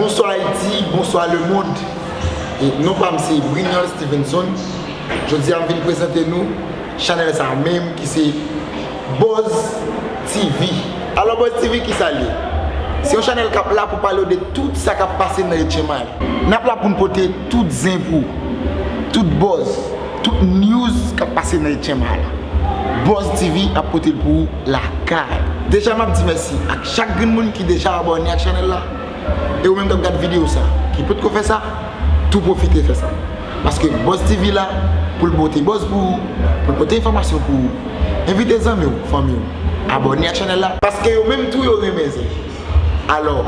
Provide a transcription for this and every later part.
Bonswa Ayiti, bonswa lemond, non pa m se Brignol Stevenson, jodi a m vin prezante nou chanèl sa menm ki se Buzz TV. Alò Buzz TV ki sa l ye? Se yon chanèl k ap la pou pale w de tout sa k ap pase nan etchenmay. N ap la pou n pote tout zen pou w, tout buzz. Tout news kap pase nan etyenm a la Buzz TV ap potel pou ou lakay. Deja map di mèsi ak chak grenn moun ki deja abòne ak chanèl la e ou menm kap gad videyo sa ki potko fè sa tou pwofite fè sa paske Buzz TV la poul pote buzz pou ou poul pote enfòmasyon pou ou envite zanmiw fanmiw abòne ak chanèl la paske yo menm tou yo renmen zen alò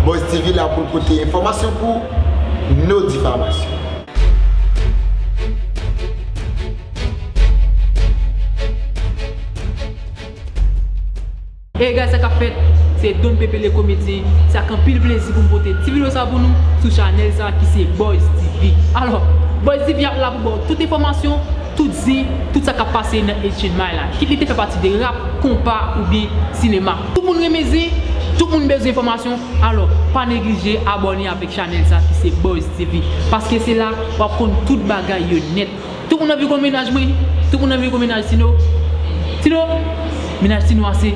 Buzz TV la poul pote enfòmasyon pou ou no difamasyon. Hey guys sa kap fèt se Don Pepe le komedyen se ak anpil plezi pou m pote ti video sa pou nou sou chanèl sa ki se Boyz TV alò Boyz TV ap la pou baw tout enfòmasyon tout zen tout sa kap pase nan 8 chen may la kit li te fè pati de rap, konpa oubyen sinema. Tout moun renmen zen, tout moun bezwen enfòmasyon, alò pa neglije abòne avèk chanèl sa ki se Buzz TV paske se la wap konn tout bagay yo nèt. Tout moun anvi konn mennaj mwen, tout moun anvi konn mennaj Tino, Tino, mennaj Tino a se,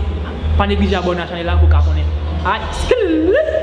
pa neglije abòne a chanèl la pou ka konnen. Ay skills!